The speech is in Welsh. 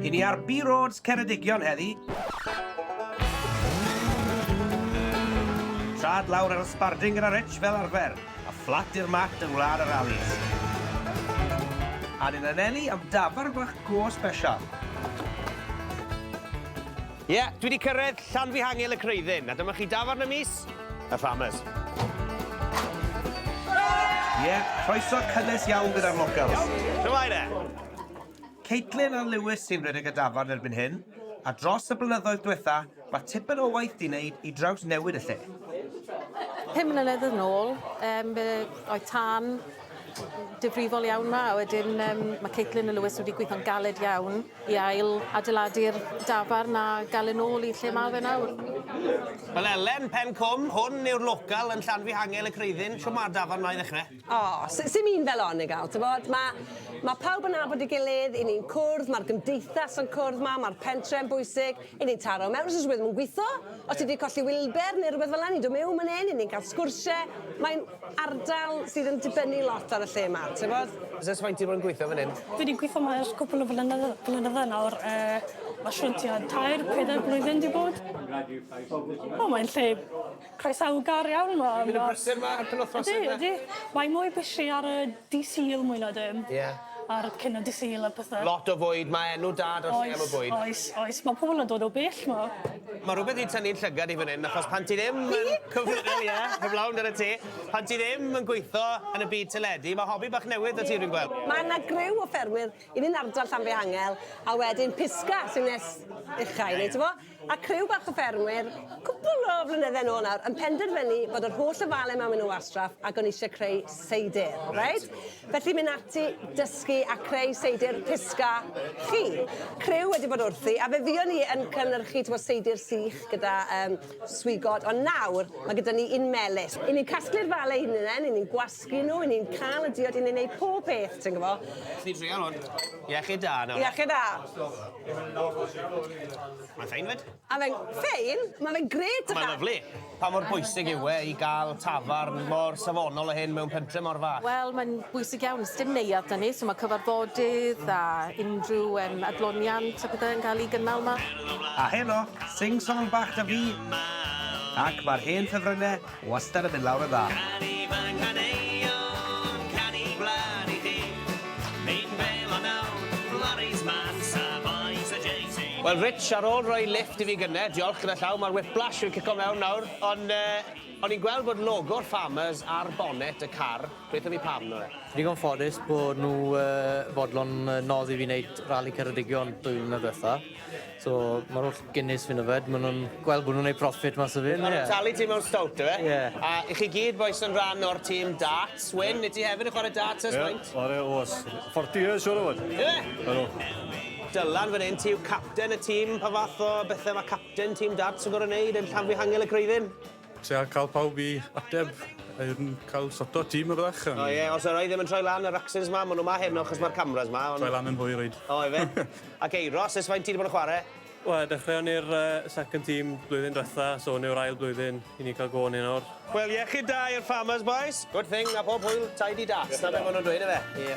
I ni ar B Roads Ceredigion heddi. Trad lawr ar y sbarding gyda Rich fel arfer, a fflat i'r mat yng Ngwlad yr Alis. A ni'n anelu am dafarn bach go sbesial. Ie, dwi 'di cyrraedd Llanfihangel y Creuddyn, a dyma chi dafarn y mis, y Farmers. Ie, croeso cynnes iawn gyda'r locals. Shwmae de? Caitlin a Lewis sy'n rhedeg y dafarn erbyn hyn, a dros y blynyddoedd diwetha, mae tipyn o waith 'di neud i drawsnewid y lle. Pum mlynedd yn ôl, yym, fe oedd tân difrifol iawn 'ma a wedyn yym ma' Caitlin a Lewis wedi gweitho'n galed iawn i ail adeiladu'r dafarn a ga'l e nôl i lle ma' fe nawr. Wel Elen, Pen Cwm, hwn yw'r local yn Llanfihangel y Creuddyn, shwt ma'r dafarn 'ma i ddechre? O, s- sim un fel 'on, Nigel, t'bod, ma' ma' pawb yn nabod ei gilydd, 'yn ni'n cwrdd, ma'r gymdeithas yn cwrdd 'ma, ma'r pentre'n bwysig, I ni taro mewn os oes rhywbeth ddim yn gweithio, os ti 'di colli wilber neu rhywbeth fel 'na, ni'n dod miwn man 'yn, 'yn ni'n ca'l sgwrsie, mae'n ardal sydd yn dibynnu lot ar y lle 'ma, t'bod? Os oes faint ti 'di bod yn gweithio fan 'yn? Fi 'di gweithio 'ma ers cwpwl o flynyddo- blynydde nawr yy ma' siŵr tua tair, peder blwyddyn 'di bod. O mae'n lle Croesawgar iawn ma' ma'... Fi'n myn' yn brysur 'ma ar penwthnos yfe? Ydi ydi. Mae mwy busy ar y dy' Sul mwy na dim. Ie. Ar cyn y dy' Sul a pethe. Lot o fwyd ma' enw da 'da'r lle am y bwyd. Oes oes oes ma' pobol yn dod o bell 'ma. Ma' rwbeth 'di tynnu'n llygad i fyn 'yn achos pan ti ddim yn... Fi? ...cyfrifol ie heblaw amdanat ti pan ti ddim yn gwitho yn y byd teledu ma' hobi bach newydd 'da ti fi'n gwel'. Ma' 'na griw o ffermwyr un yn ardal Llanfihangel a wedyn Pisgah sy'n nes ucha i ni t'mo? A criw bach o ffermwyr, cwpwl o flynydde nôl nawr, yn penderfynu bod yr holl ofalyn 'ma myn' nw wastraff ag o'n i isie creu seidr, reit? Felly myn' ati, dysgu a creu seidr pisca chi. Criw wedi bod wrthi, a fe fuon ni yn cynyrchu t'mo' seidr sych gyda yym swigod, ond nawr ma' gyda ni un melys. 'Yn ni'n casglu'r fale 'yn unen, 'yn ni'n Sgyn nhw, yn ni'n cael y diod i ni'n neud pob peth, ti'n gwbo. Nes ni trial hwn. Iechyd da nawr. Iechyd da. Mae'n ffein fyd. A mae'n ffein? Mae fe'n gret dychan. Mae'n lyfli. Pa mor bwysig yw e i gael tafarn mor safonol o hyn mewn pentre mor fach? Wel, mae'n bwysig iawn. Sdim neuadd da ni, so mae cyfarfodydd a unrhyw um, adloniant a pethau yn cael ei gynnal yma. A heno, sing-song bach da fi. Ac mae'r hen ffefrynnau Wastad yn mynd lawr yn dda. Canu Mae Caneuon Canu Gwlad i chi Mynd fel o nawr Lorries Mas a Bois a Jay-Z. Wel Rich, ar ôl rhoi lifft i fi gynne, diolch gyda llaw, mae'r whiplash yn cico mewn nawr, ond yy o'n i'n gweld bod logo'r Farmers ar bonnet y car, gweutho fi pam nawr. Digon ffodus bod nhw yy fodlon yy nodd i fi wneud Rali Ceredigion dwy flynedd dwetha. So ma'r holl Guinness fi'n yfed ma' nw'n gweld bo' nw'n neud profit mas o fi. Ma' nw'n talu ti mewn stowt yfe? Ie. A 'ych chi gyd bois yn ran o'r tîm darts. Wyn wyt ti hefyd yn chware darts ers faint? Ie chware ers forty years siŵr o fod. Yfe? Ydw. Dylan fan 'yn ti yw capten y tîm pa fath o bethe ma' capten tîm darts yn gor'o' neud yn Llanfihangel y Creuddyn? Tria cael pawb i ateb yn cael soto tîm a byddech yn... O ie, os oedd rhai ddim yn troi lan yr accents ma, maen nhw ma heno achos mae'r cameras ma ond... Troi lan yn hwyr rhaid. O ife? Ok, Ross, ers faint ti wedi bod yn chwarae? Wel, dechreuon ni'r yy second team blwyddyn dwetha, so hwn yw'r ail blwyddyn i ni'n cael go arnyn nawr. Wel, iechyd da i'r Farmers bois! Good thing, a phob hwyl, tidy da. Dyna be maen nhw'n dweud, ife? Ie.